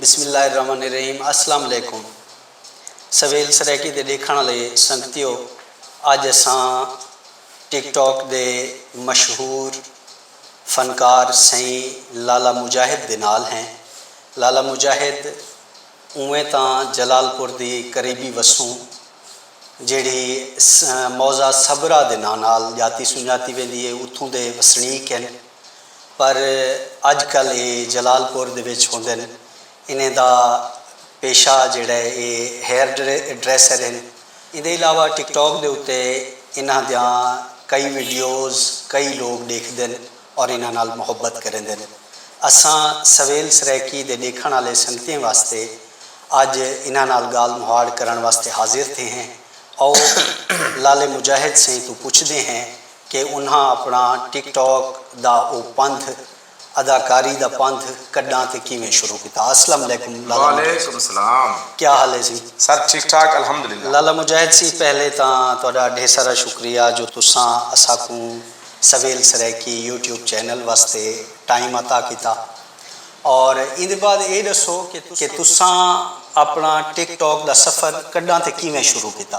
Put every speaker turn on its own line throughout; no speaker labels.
بسم اللہ الرحمن الرحیم اسلام علیکم سویل سرائیکی دے ڈیکھنڑ آلے سنگتیو اج اساں ٹک ٹاک دے مشہور فنکار سئیں لالا مجاہد دے نال ہیں لالا مجاہد اونویں تاں جلال پور دی قریبی وسوں جیڑھی موضع صبرا دے ناں نال جاتی سنجاتی ویندی ہے اتھوں دے وسنیک ہن۔ پر اج کل اے جلال پور دے وچ ہوندن۔ انہیں دا پیشہ جیڑھا ہے اے ہیئر ڈریسر ہن۔ ایندے علاوہ ٹک ٹاک دے اتے انہاں دیاں کئی ویڈیوز کئی لوگ ڈیکھدن اور انہاں نال محبت کریندن۔ اساں سویل سرائیکی دے ڈیکھن آلے سنگتیں واسطے اج انہاں نال گالھ مہاڑ کرن واسطے حاضر تھے ہیں۔ آؤ لالے مجاہد سئیں توں پچھدے ہیں کہ انہاں اپݨا ٹک ٹاک دا او پندھ اداکاری دا پندھ کݙاں تے کیویں شروع کیتا اسلم علیکم لالا مجاہد
کیا حال ہے سی لالا مجاہد سی
پہلے تاں تہاݙا ڈھیسارا شکریہ جو تساں اساکوں سویل سرائیکی یوٹیوب چینل واسطے ٹائم عطا کیتا اور ایندے بعد اے ݙسو کہ تساں اپݨا ٹک ٹاک دا سفر کݙاں تے کیویں شروع کیتا۔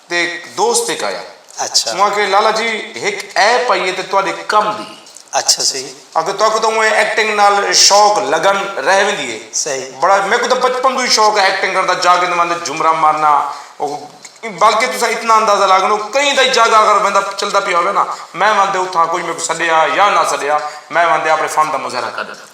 تے دوست ہک آیا۔ اچھا۔ اوں آکھیے لالا
جی
ہک ایپ آئی ہے تے تہاڈے کم دی۔ اچھا صحیح۔
آکھیے تہاکوں تاں اونویں
ایکٹنگ نال شوق لگن رہ ویندی ہے۔ صحیح۔ بڑا میکوں تاں
بچپن
توں ہی شوق ہے ایکٹنگ کرݨ دا جاکے نواں دے جھمرا مارنا بلکہ تساں اتنا اندازہ لا گھنو کہیں تئیں جاکے اگر ویندا چلدا پیا ہووے نا میں وندے اتھاں کوئی میکوں سڈیا یا نہ سڈیا میں وندے اپݨے فن دا مظاہرہ کر ݙیندا۔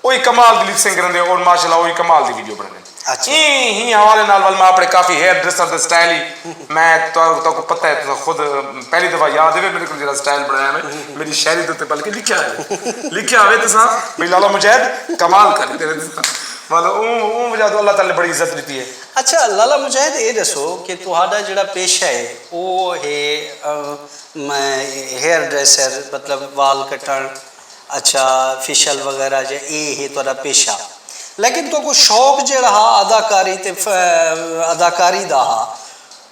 اوہی کمال دی لپ سنگ کریندے اور ماشاء اللہ اوہی کمال دی ویڈیو بنڑیندے ایں ہی
حوالے نال
ول میں اپنے کافی ہیئر ڈریسر دے سٹائل ہی میں تہاکوں پتہ ہے تساں خود پہلی دفعہ یاد ہوے میڈے کول جیڑھا سٹائل بنڑایا ہوے میڈی شاعری دے اتے بلکہ لکھیا ہوے لکھیا ہوے تساں بھئی لالا مجاہد کمال کر ڈتے نے تساں مطلب اوں اوں وجہ توں اللہ تعالی نے بڑی عزت ڈتی ہے۔ اچھا لالا مجاہد
اے ڈسو کہ تہاڈا جیڑھا پیشہ ہے او ہے ہیئر ڈریسر مطلب وال کٹنڑ۔ اچھا فشل وغیرہ جے اے ہے تہاڈا پیشہ لیکن تہاکوں شوق جیہڑا ہا اداکاری تے اداکاری دا ہا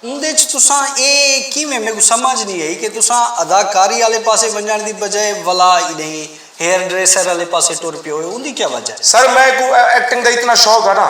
اوندے اچ تساں اے کیویں میکوں سمجھ نی آئی کہ تساں اداکاری آلے پاسے ونجنڑ دی بجائے ولا انہی ہیئر ڈریسر آلے پاسے ٹر پیو اوندی کیا وجہ ہے؟ سر میکوں ایکٹنگ
دا اتنا شوق ہا نا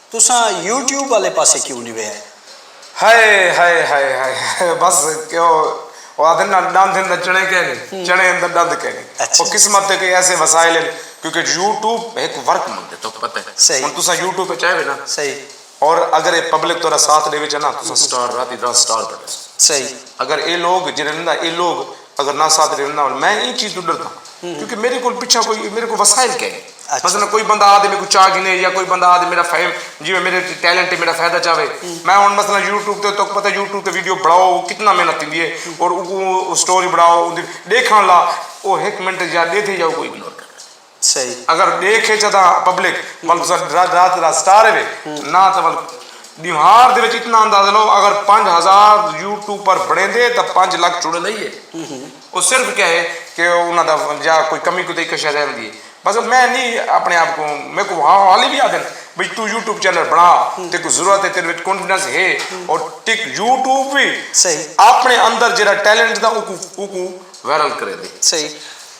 تساں یوٹیوب آلے پاسے کیوں نی ویئے۔ ہائے ہائے ہائے ہائے
بس او آدھن نا ڈند ہندا چڑھے کینی چڑھے ہندا ڈند کینی او قسمت دے کوئی
ایسے
وسائل ہن کیونکہ یوٹیوب ہک ورک منگدے تہاکوں پتہ ہے ہن تساں یوٹیوب وچ
آئے وے
نا اور
اگر اے
پبلک تہاڈا ساتھ ڈیوے چہ نا تساں سٹار راتی رات سٹار بنڑے سو اگر
اے لوگ
جنہاں نا اے لوگ اگر نہ ساتھ ݙیوݨ نہ میں ایں چیز توں ݙرداں کیونکہ میݙے کول پچھا کوئی میݙے کول وسائل کائنی مثلا کوئی بندہ آ
تے میکوں
چا گھنے یا کوئی بندہ آ تے میݙا فیم جیویں میݙے وچ ٹیلنٹ ہے میݙا فائدہ چاہوے میں ہݨ مثلا یوٹیوب تے تہاکوں پتہ ہے یوٹیوب تے ویڈیو بݨاؤ کتنا محنت تھیندی ہے اور اوکوں سٹوری بݨاؤ اوندی ݙیکھݨ لا او ہک منٹ یا ݙیدھے یا کوئی اگنور کر ݙیندے سئی۔ اگر
ڈیکھ اچ
ادا پبلک ول تساں رات رات دا سٹار ایوے نہ تاں ول بیہار دے وچ اتنا اندازہ لو اگر پنج ہزار یوٹوپر بنیندے تاں پنج لکھ چڑ لئی ہے او صرف کیا ہے کہ انہاں دا یا کوئی کمی کوتاہی کوئی شے رہندی ہے بس میں نی اپنے آپ کو میں کو ہاں حالی بھی آدن بھئی تو یوٹیوب چینل بنا تے کو ضرورت ہے تیرے وچ کانفیڈنس ہے اور ٹک یوٹیوب بھی اپنے
اندر جیرا
ٹیلنٹ دا او کو او کو وائرل کریندے۔ سئی۔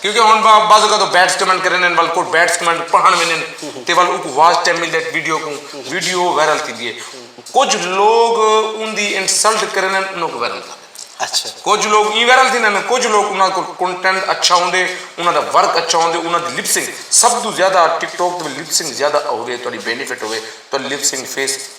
کیونکہ ہن
بعض
اوقات او بیٹس کمنٹ کریندن ول کوئی بیٹس کمنٹ پڑھن ویندن تے ول اوکوں واچ ٹائم ملدا ہے ویڈیو کوں ویڈیو وائرل تھیندی ہے کچھ لوگ اوندی انسلٹ کریندن انہاں کوں وائرل تھیندے اچھا کچھ لوگ
ایں وائرل
تھیندن کچھ لوگ انہاں کول کنٹینٹ اچھا ہوندے انہاں دا ورک اچھا ہوندے انہاں دی لپسنگ سب توں زیادہ ٹک ٹاک تے لپسنگ زیادہ ہووے تہاڈی بینیفٹ ہووے تہاڈی لپسنگ فیس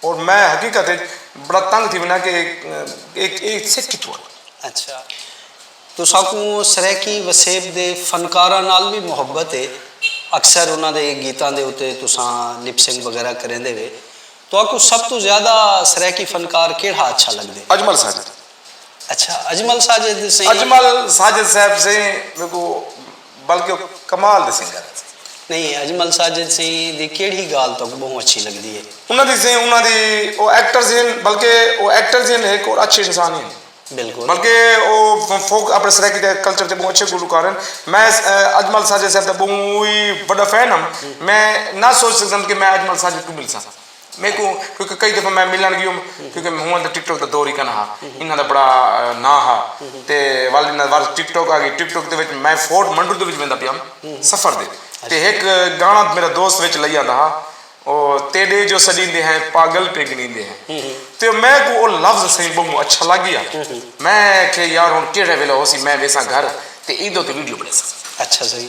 اور میں حقیقت اچ بڑا تنگ تھی وینا کہ اے سکھ کتھوں آئے۔ اچھا
تساکوں سرائیکی وسیب دے فنکاراں نال وی محبت اے۔ اکثر انہاں دے گیتاں دے اتے تساں لپ سنگ وغیرہ کریندے وے۔ تہاکوں سب توں زیادہ سرائیکی فنکار کیڑھا اچھا لگدے؟ اجمل ساجد۔
اچھا
اجمل ساجد سیں اجمل ساجد
صاحب سیں میکوں بلکہ کمال دی سنگت ہے۔ نہیں اجمل
ساجد سیں دی کیڑھی گالھ تہاکوں بہوں اچھی لگدی ہے؟ انہاں دی سیں انہاں دی
او ایکٹرز ہن بلکہ او ایکٹرز ہن ہک اور اچھے انسان ہن بالکل بلکہ
او
فوک اپنے سرائیکی دے کلچر دے بہوں اچھے گلوکار ہن میں اجمل ساجد صاحب دا بہوں ہی وڈا فین ہم میں نہ سوچ سکدم کہ میں اجمل ساجد کوں ملساں۔ میکوں کیونکہ کئی دفعہ میں ملݨ ڳیوم کیونکہ ہوں تاں ٹک ٹاک دا دور ہی کن ہا انہاں دا بڑا ناں ہا تے ول انہاں ول ٹک ٹاک آ گئی ٹک ٹاک دے وچ میں فورٹ منڈو دے وچ ویندا پیام سفر دے تے ہک گانا میرا دوست وچ لئی آندا ہا او تیݙے جو سݙیندے ہیں پاگل پہ گݨیندے ہیں تے میں کوں او لفظ سئیں ٻہوں اچھا لڳ ڳیا میں کھے یار ہݨ کیڑھے ویلے ہوسی میں ویساں گھر تے ایندے اتے ویڈیو بݨیساں اچھا سئیں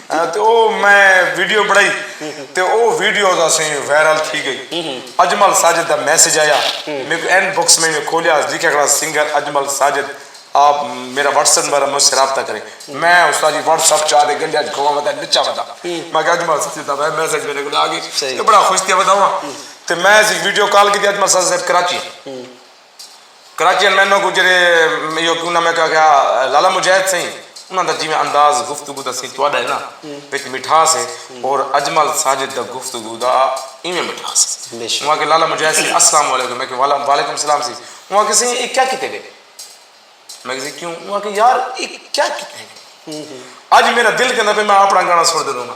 تے او میں ویڈیو بنڑائی تے او ویڈیوز اسیں وائرل تھی گئی اجمل ساجد دا میسج آیا میکوں ان بکس میں میں کھولیا اس لکھیا کھڑا سنگر اجمل ساجد آپ میرا واٹس ایپ نمبر مجھ سے رابطہ کریں میں استاد جی واٹس ایپ چاہ دے گنڈیا جی کھوا ودا نچا ودا میں کہ اجمل ساجد دا میسج میرے کو آگے بڑا خوش تھی ودا ہوں تے میں ویڈیو کال کی دی اجمل ساجد صاحب کراچی ہیں کراچی ایم این او کوں جیڑھے ایو کیوں نہ میں کہا گیا لالا مجاہد سئیں انہاں دا جیویں انداز گفتگو دا سئیں تہاڈا ہے نا وچ مٹھاس ہے اور اجمل ساجد دا گفتگو دا ایویں مٹھاس ہے انہاں آکھیا لالا مجاہد سئیں السلام علیکم میں کہا وعلیکم السلام سئیں انہاں آکھیا سئیں اے کیا کیتے ڈے میں کہا سئیں کیوں انہاں آکھیا یار اے کیا کیتے ہیں اج میرا دل کہندا پیا میں اپنا گانا سنڑ دے رہواں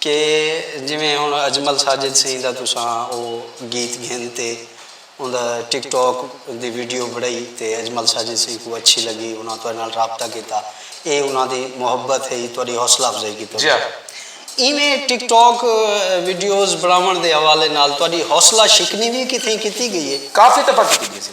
کہ جیویں ہݨ اجمل ساجد سئیں دا تساں او گیت گھن تے اوندا ٹک ٹاک دی ویڈیو بݨائی تے اجمل ساجد سئیں کوں اچھی لڳی انہاں تہاݙے نال رابطہ کیتا اے انہاں دی محبت ہئی تہاݙی حوصلہ افزائی کیتے ڳئے ایویں ٹک ٹاک ویڈیوز بݨاوݨ دے حوالے نال تہاݙی حوصلہ شکنی وی کتھیں کیتی ڳئی اے؟ کافی طبع کیتی ڳئی اسی۔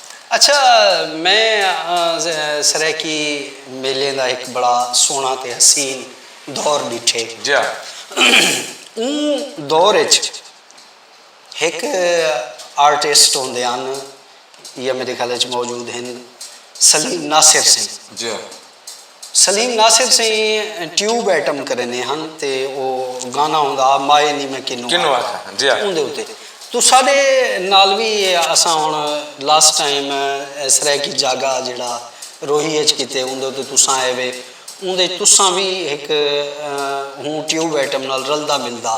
اچھا
میں سرائیکی میلیں دا ہک بڑا سوہنڑا تے حسین دور ڈیٹھے۔ جیا۔ اوں دور اچ ہک آرٹسٹ ہوندے ہن یا میڈے خیال اچ موجود ہن سلیم ناصر سئیں۔ جیا۔
سلیم
ناصر سئیں ٹیوب ایٹم کریندے ہن تے او گانا ہوندا ہا مائے نی میں کنوں کنوں آکھاں آکھاں جی ہاں اوندے
اتے
تساڈے نال وی اساں ہن لاسٹ ٹائم سرائیکی جاگا جیڑھا روہی اچ کیتے اوندے اتے تساں آئے وے اوندے اچ تساں وی ہک ہوں ٹیوب ایٹم نال رلدا ملدا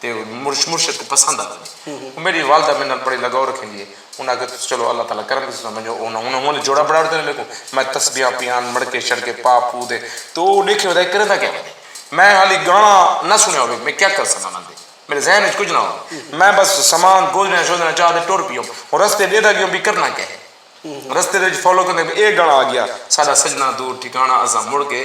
تے مرشد کوں پسند آ ونجے او میڈی والدہ میڈے نال بڑے لگاؤ رکھیندی ہے انہاں آکھیا تساں چلو اللہ تعالی کرم کیتے تساں ونجو او انہاں انہاں نے جوڑا بنڑاڑ دینے میکوں میں تسبیحاں پیاں مڑکے شڑکے پا پو دے تے او ڈیکھے ودا اے کریندا کیا ونجے میں حالی گانا نہ سنڑیا ہووے میں کیا کرساں انہاں دے میڈے ذہن وچ کجھ نہ ہووے میں بس سامان گودڑیاں شودڑیاں چا تے ٹر پیوم ہن رستے ڈیہدہ گیوم وی کرنا کیا ہے رستے دے وچ فالو کریندے اے گانا آ گیا ساڈا سجناں دور ٹھکانہ اساں مڑ کے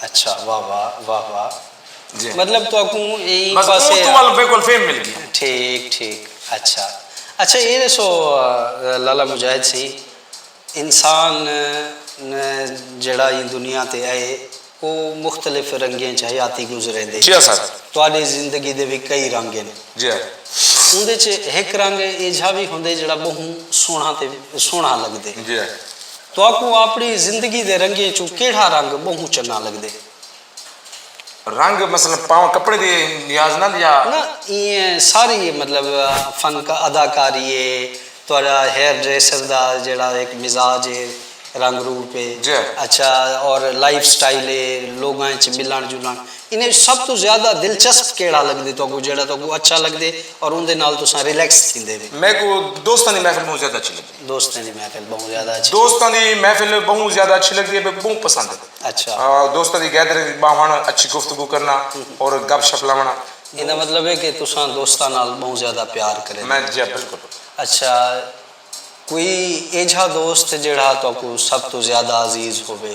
اچھا واہ
واہ واہ واہ جی مطلب
تہاکوں
ایں پاسے بس اوں توں ول بالکل
فیم
مل گئی
ٹھیک ٹھیک
اچھا اچھا اے دسو لالا مجاہد سئیں انسان جیڑھا ایں دنیا تے اے او مختلف رنگیں اچ حیاتی گزریندے جی سر تہاڈی
زندگی دے
وی کئی رنگ ہن جی
اوندے اچ
ہک رنگ ایجھا وی ہوندے جیڑھا بہوں سوہنڑا تے سوہنڑا لگدے جی۔
تہاکوں
آپݨی زندگی دے رنگیں چوں کیڑھا رنگ ٻہوں چنگاں لڳدے؟
رنگ مثلا پاون کپڑے دی نیاز نال یا۔ نہ ایئں
ساری مطلب فن اداکاری ہے تہاݙا ہیئر ڈریسر دا جیڑھا ہک مزاج ہے رنگ روپ ہے جی۔ اچھا اور لائف سٹائل ہے لوگاں اچ ملݨ جلݨ انہاں اچ سب توں زیادہ دلچسپ کیڑھا لڳدے تہاکوں جیڑھا تہاکوں اچھا لڳدے اور اوندے نال تساں ریلیکس تھیندے وے۔ میکوں دوستاں دی
محفل ٻہوں زیادہ اچھی لڳدی۔
دوستاں دی محفل بہوں زیادہ اچھی دوستاں دی
محفل بہوں زیادہ اچھی لگدی ہے میکوں بہوں پسند ہے اچھا دوستاں دی
گیدرنگ
وچ باہنڑ اچھی گفتگو کرنا اور گپ شپ لاونڑاں ایندا مطلب ہے کہ
تساں دوستاں نال بہوں زیادہ پیار کریندے میں جی بالکل
اچھا
کوئی ایجھا دوست جیہڑا تہاکوں سب توں زیادہ عزیز ہووے۔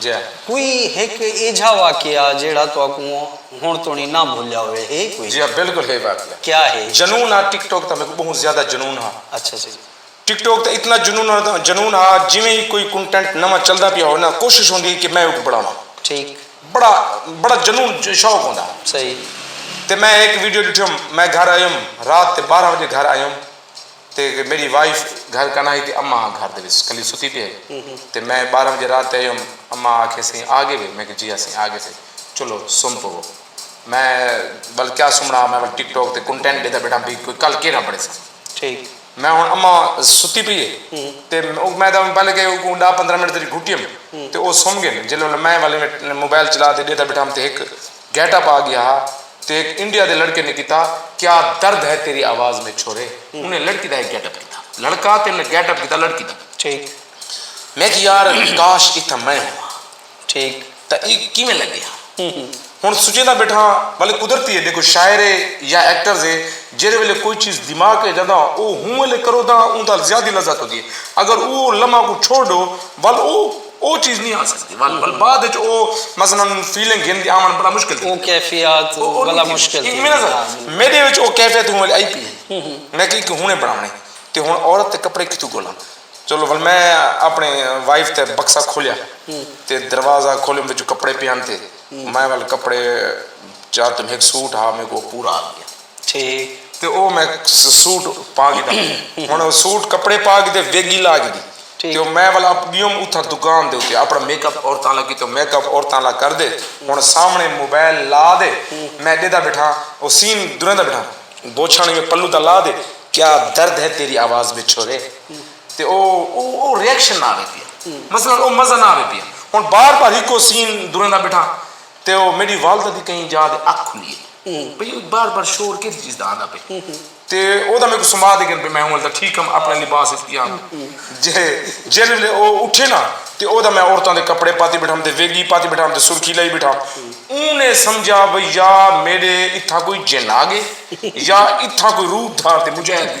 جا کوئی
ہک
ایجھا واقعہ جیڑھا تہاکوں ہنڑ توڑیں نہ بھلیا ہووے ہے کوئی؟ جی ہا بالکل ہے واقعہ۔
کیا ہے؟ جنون ہا
ٹک ٹوک دا
میکوں بہوں زیادہ جنون ہا۔ اچھا جی۔
ٹک ٹوک دا اتنا
جنون جنون ہا جیویں ہی کوئی کنٹینٹ نواں چلدا پیا ہووے نا کوشش ہوندی ہی کہ میں اوکوں بنڑاواں۔ ٹھیک۔ بڑا بڑا جنون شوق ہوندا ہا۔ صحیح۔
تے میں
ہک ویڈیو ڈٹھیوم میں گھر آیوم رات تے بارہ وجے گھر آیوم۔ تے میڈی وائف گھر کنا ہی تے اماں گھر دے وچ کلی ستی پی ہئی تے میں بارہ بجے رات تے ایوم اماں آکھے سیں آ گئے وے میں کہے جی اسیں آ گئے سے چلو سم پوو میں ول کیا سمنا میں ول ٹک ٹاک تے کنٹینٹ ڈیتا بیٹھا بھئی کوئی کل کیرا بنے سا ٹھیک میں
ہن اماں
ستی پی ہے تے میں تاں پہلے کہے اوکوں ڈاہ پندرہ منٹ تیری گھٹیم تے او سم گئے جلے ول میں ول موبائل چلا تے ڈیتا بیٹھا تے ہک گیٹ اپ آ گیا ہا تے ہک انڈیا دے لڑکے نے کیتا کیا درد ہے تیری آواز میں چھورے انہیں لڑکی دا ہک گیٹ اپ کیتا لڑکا تے انہیں گیٹ اپ کیتا لڑکی دا ٹھیک
میں کہ
یار کاش اتھاں میں ہوواں ٹھیک
تاں ای کیویں
لگے ہا ہن سوچیندا بیٹھاں ولے قدرتی ہے ڈیکھو شاعر ہے یا ایکٹرز ہے جیڑھے ویلے کوئی چیز دماغ اچ آندا او ہوں ویلے کرو تاں اوندا زیادی لذت ہوندی ہے اگر او لمحہ کوں چھوڑ ڈو ول او او چیز نی آ سکدی ول ول بعد اچ او مثلا فیلنگ گھن کے آوݨ بڑا مشکل تھی ویندے او کیفیات
بلا مشکل تھی ویندے ہاں بالکل میڈے
وچ او کیفیت ہوں ویلے آئی پی ہئی میں کہیں کہ ہنڑے بنڑاونے تے ہنڑ عورت تے کپڑے کتھوں گھولاں چلو ول میں اپنڑے وائف تے بکسہ کھولیا تے دروازہ کھولیم وچوں کپڑے پیان تے میں ول کپڑے چا تم ہک سوٹ ہا میکو پورا آ گیا۔ ٹھیک۔ تے
او میں
سوٹ پا گھداں۔ ہن او سوٹ کپڑے پا گھدے ویگی لا گھدی۔ ٹھیک۔ تے او میں ول اپ گیوم اتھاں دکان دے اتے اپنا میک اپ عورتاں آلا کیتے میک اپ عورتاں آلا کر دے ہن سامنے موبائل لا دے میں ڈیدا بیٹھاں او سین دریندا بیٹھاں۔ بوچھاں نویں پلو دا لا دے کیا درد ہے تیری آواز میں چھورے تے او او ریئیکشن نہ آوے پیا۔ مثلا او مزہ نہ آوے پیا۔ ہن بار بار ہکو سین دریندا بیٹھاں۔ تے او میڈی والدہ دی کہیں جاہ دے اکھ کھلی اے بھئی او بار بار شور کیدی چیز دا آندا پے تے او دا میکوں سما دے گن بھئی میں ہوں ولدا ٹھیک ہم اپنے لباس اچ پیا ہم جے جیلے ویلے او اٹھے نا تے او دا میں عورتاں دے کپڑے پاتی بیٹھا ہم تے ویگی پاتی بیٹھا ہم تے سرخی لائی بیٹھا ہم اوں نے سمجھا بھئی یا میڈے اتھاں کوئی جن آ گئے یا اتھاں کوئی روپ دھار تے مجاہد دی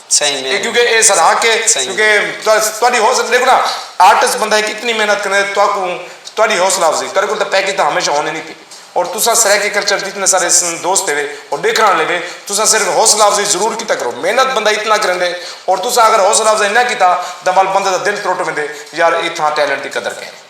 اے کیوں کہ اے ساڈا حق اے کیوں کہ تہاڈی حوصلہ ڈیکھو نا آرٹسٹ بندہ ہک اتنی محنت کرنے تے تہاکوں تہاڈی حوصلہ افزائی تہاڈے کول تاں پیکج تاں ہمیشہ ہونے نی تھے اور تساں سرائیکی کلچر دے جتنے سارے دوست ہیوے اور ڈیکھن آلے ہیوے تساں صرف حوصلہ افزائی ضرور کیتا کرو محنت بندہ اتنا کریندے اور تساں اگر حوصلہ افزائی نہ کیتا تاں ول بندے دا دل ترٹ ویندے یار ایتھاں ٹیلنٹ دی قدر کینی۔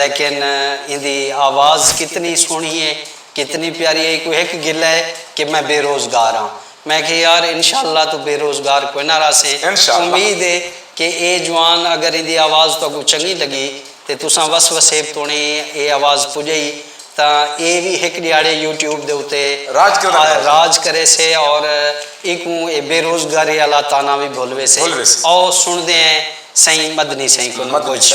لیکن ایندی آواز کتنی سوہݨی اے، کتنی پیاری اے، ایکوں ہک گلہ اے کہ میں بے روزگار آں۔ میں اکھیا یار انشاء اللہ توں بے روزگار کوئی نہ رہسیں، امید اے کہ اے جوان اگر ایندی آواز تہاکوں چنڳی لڳی تے تساں وس وسیب توݨیں اے آواز پڄائی تاں اے وی ہک ݙیہاڑے یوٹیوب دے اتے راج کریسے اور ایکوں اے بے روزگاری آلا طعنہ وی بھل ویسے۔ آؤ سݨدے ہیں سئیں مدنی سئیں کولوں کجھ۔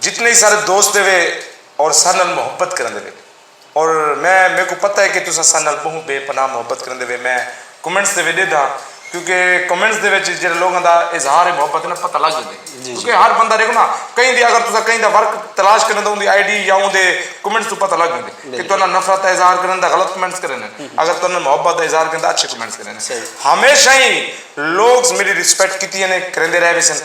جتنے ہی سارے دوست دیوے اور سارے نال محبت کرن دیوے اور میں میرے کو پتہ ہے کہ تساں سارے نال بہوں بے پناہ محبت کرن دیوے میں کمنٹس دیوے دے داں کیونکہ کمنٹس دے وچ جڑے لوگاں دا اظہار محبت ہے نا پتہ لگ جاندے کیونکہ ہر بندہ دیکھو نا کہیں دی اگر تساں کہیں دا ورک تلاش کرن دا اوندی آئی ڈی یا اوندے کمنٹس تو پتہ لگ جاندے کہ تہاڈا نفرت دا اظہار کرن دا غلط کمنٹس کرن اگر تہاڈا محبت دا اظہار کرن دا اچھے کمنٹس کرن ہمیشہ ہی لوگز میری رسپیکٹ کیتی ہے نے کریندے رہ ویسن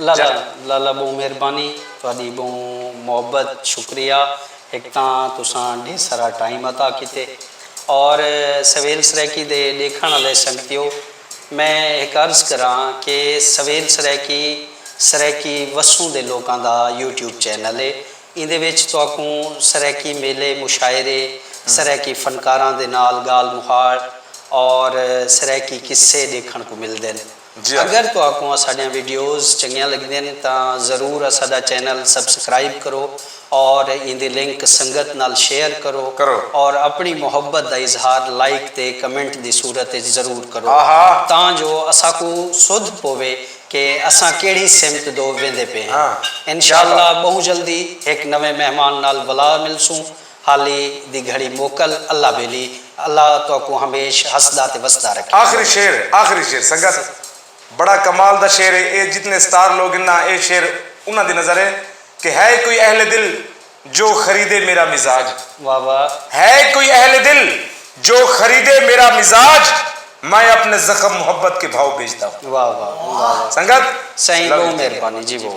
لالا لالا بہوں
مہربانی تہاڈی بہوں محبت شکریہ ہک تاں تساں ڈھیر سارا ٹائم عطا کیتے اور سویل سرائیکی دے ڈیکھن آلے سنگتیو میں ہک عرض کراں کہ سویل سرائیکی سرائیکی وسوں دے لوکاں دا یوٹیوب چینل ہے ایندے وچ تہاکوں سرائیکی میلے مشاعرے سرائیکی فنکاراں دے نال گالھ مہاڑ اور سرائیکی قصے ڈیکھن کوں ملدن۔ اگر تہاکوں اساڈیاں ویڈیوز چنگیاں لگدین تاں ضرور اساڈا چینل سبسکرائب کرو اور ایندی لنک سنگت نال شیئر کرو اور اپنڑی محبت دا اظہار لائک تے کمنٹ دی صورت اچ ضرور کرو تاں جو اساکوں سدھ پووے کہ اساں کیڑھی سمت دو ویندے پئے ہیں انشاءاللہ بہوں جلدی ہک نویں مہمان نال ولا ملسوں حالی دی گھڑی موکل اللہ ویلی اللہ تہاکوں ہمیش ہسدا تے وسدا رکھے۔ آخری شعر آخری شعر
سنگت بڑا کمال دا شعر ہے اے جتنے ستار لوگ ہن نا اے شعر انہاں دی نظر ہے کہ ہے کوئی اہل دل جو خریدے میرا مزاج واہ واہ۔
ہے کوئی اہل
دل جو خریدے میرا مزاج میں اپنے زخم محبت کے بھاؤ
بیچتا ہوں۔
واہ واہ
واہ واہ
سنگت
سائیں لو یو بہوں
ٹی کے۔
مہربانی جی
بہوں۔